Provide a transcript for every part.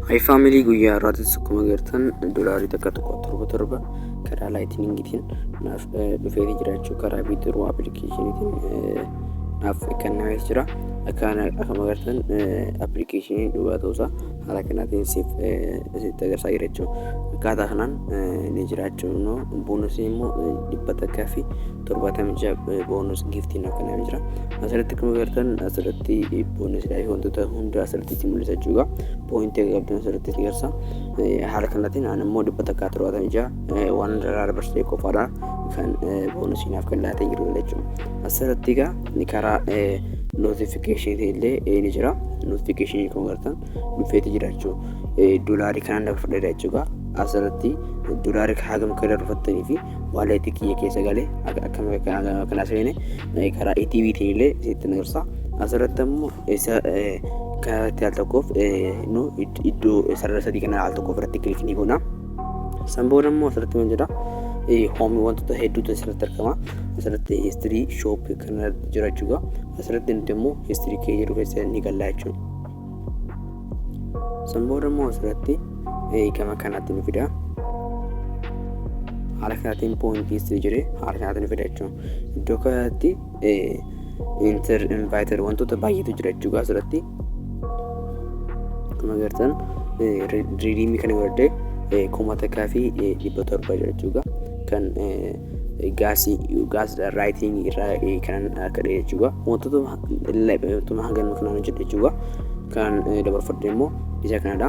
Hayi faamilii guyyaa irraatis akkuma gartan dolaarii takka tokko torba torba karaa laayitiningitiin naaf dhufee jiraachuu karaa biitiruu appilikeeshiniitiin naaf kennamees jira. Akkuma gartan appilikeeshinii dhugaa ta'uusaa haala kanaatiin siif sitti agarsiisaa jira jechuudha. Akkaataa kanaan ni jiraachuu immoo boonusii immoo dhibba takkaa fi torbaatamii ja'a boonus giiftiin akka nama jira asirratti akkuma agartan asirratti boonusidha wantoota hunda asirratti itti mul'isa jechuudha poointii gabaabduu asirratti itti garsa haala kanaatiin aan immoo dhibba takkaa torbaatamii ja'a waan irraa dabarsitee qofaadha kan boonusii naaf kan laatee jiru jechuudha asirratti egaa karaa notifikashinii illee ni jira notifikashinii kan agartan dhufeeti jira jechuudha doolaarii kanaan dabarfadha jechuudha asirratti doolaarii hagam akka darbattanii fi waaleetii kiyya keessa galee akkana kana seene karaa ATVtiin illee isitti nu gorsa. Asirratti ammoo isa karaa irratti al tokkoof nu iddoo sarara sadii kana al tokkoof irratti kilik ni goona. San booda ammoo asirratti maal jedha hoomii wantoota hedduutu asirratti argama. Asirratti histirii shooppii kana jira jechuudha. Asirratti nuti immoo histirii kee jedhu keessa ni galla jechuudha. San booda immoo asirratti gama kanaatti nu fida. Haala kanaatiin poointii sii jiree haala kanaatiin nu fida jechuudha. Iddoo kanatti inter inviter wantoota baay'eetu jira jechuudha asirratti. Akkuma agartan riidiimii kana godhadhee kuma takkaa fi dhibba torba jira jechuudha. Kan gaasii gaas raayitingi irraa kan akka dhee jechuudha wantoota wantoota hanga nuuf naan hojjedhe jechuudha kan dabarfadhe immoo isa kanadha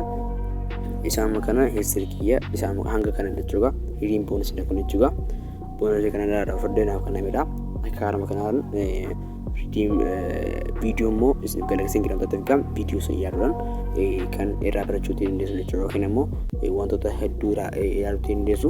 isaan kana history kiyya isaan hanga kana jechuudha hiriin boonis dha kun jechuudha boonis kana irraa dabarfadhe naaf kan namedha akka haarama kanaan ridiim viidiyoo immoo isin galaksiin gidhamtoota figaa viidiyoo sun yaaduudhaan kan irraa barachuu dandeessu jechuudha yookiin immoo wantoota hedduu irraa yaaduutti dandeessu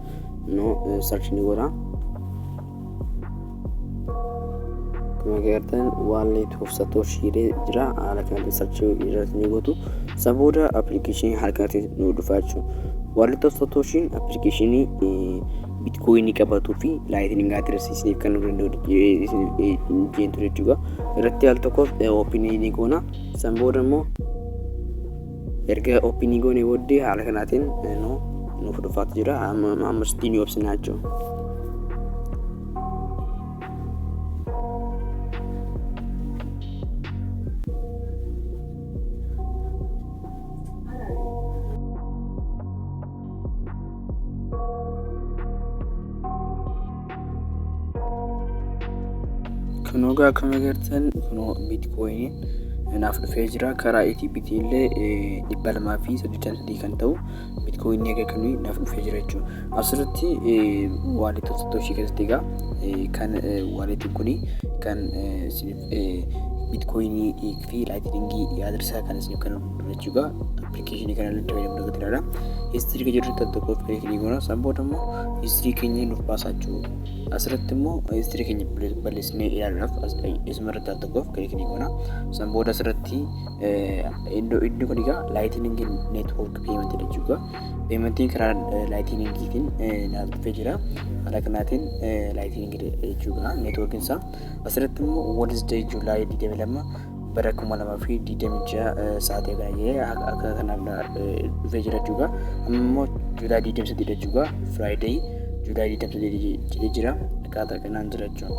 no search ni godha akkuma agartan wallet of satoshi jedhee jira haala kanatti search irratti ni gootu isa booda appilikeeshinii harkatti nu dhufa jechuudha wallet of satoshiin appilikeeshinii bitcoin qabatuu fi lightning address isiniif kan nu danda'u jeentu jechuudha irratti al tokko open ni goona san booda immoo Erga oopinii goonee booddee haala kanaatiin nu nuuf dhufaatu jira. Ammas diinii obsinaa jechuudha. Kunoo akkuma agartan kunoo biitkoyiniin naaf dhufee jira karaa ETBitii illee dhibba lamaa fi saddeettan sadii kan ta'u biitkoyinii egaa kan naaf dhufee jira jechuudha. Asirratti waalitii satoshii keessatti egaa kan waalitiin kun kan Bitcoinii fi Lightning address kan isin kan jechuudha. Application kana irratti fayyadamuu irratti ilaala. History kan jedhu tokko of kiliik ni goona. San booda immoo history keenya nuuf baasaa jiru. Asirratti immoo history keenya balleessinee ilaaluudhaaf isuma irratti al tokko of kiliik ni goona. San booda asirratti iddoo iddoo kun egaa Lightning network payment jechuudha. Paymentiin karaa Lightningiitiin naaf dhufee jira. Haala kanaatiin Lightning jechuudha networkiin isaa. Asirratti immoo Wednesday July 22 bara 2026 sa'aatii kana jedhee akka kanaaf dhufee jira jechuudha. Amma immoo July 23 jechuudha. Friday July 23 jedhee jira. Akkaataa kanaan jira jechuudha.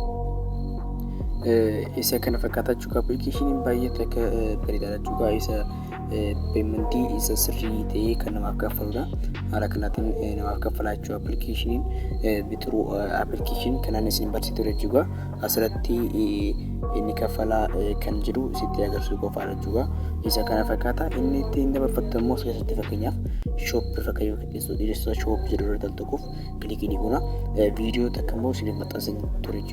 Isa kana fakkaata jechuudha. Appilikeeshiniin baay'ee takka bareedaadha jechuudha. Isa peementii isa sirrii ta'ee kan namaaf kaffaludha. Haala kanaatiin namaaf kaffalaa jechuudha appilikeeshiniin bitiruu appilikeeshin kanaan isin barsiisu ture jechuudha. Asirratti inni kaffalaa kan jiru sitti agarsiisu qofaadha jechuudha. Isa kana fakkaata inni ittiin dabarfattu immoo keessatti fakkeenyaaf shoop irra kan yoo qixxeessu dhiiressa shoop jedhu irra tal tokkoof kilikii ni goona. Viidiyoo takka immoo isiniif maxxansin ture jechuudha.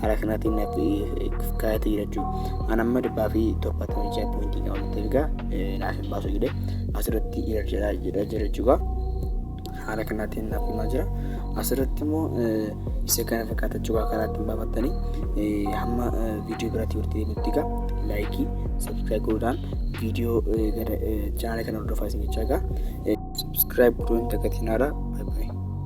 haala kanaatiin naaf kaayatee jira jechuudha. An amma dhibbaa fi torbaatamii ja'a poointii qaba nutti ergaa naaf hin baasu jedhee asirratti irar jedhaa jedhaa jira jechuudha. Haala kanaatiin naaf himaa jira. Asirratti immoo isa kana fakkaata jechuudha karaa ittiin baafattanii hamma viidiyoo biraatti walitti deemutti egaa laayikii sabskiraayib godhuudhaan viidiyoo gara chaanala kana hordofaa isin jechaa egaa sabskiraayib godhuun dagatinaa dha.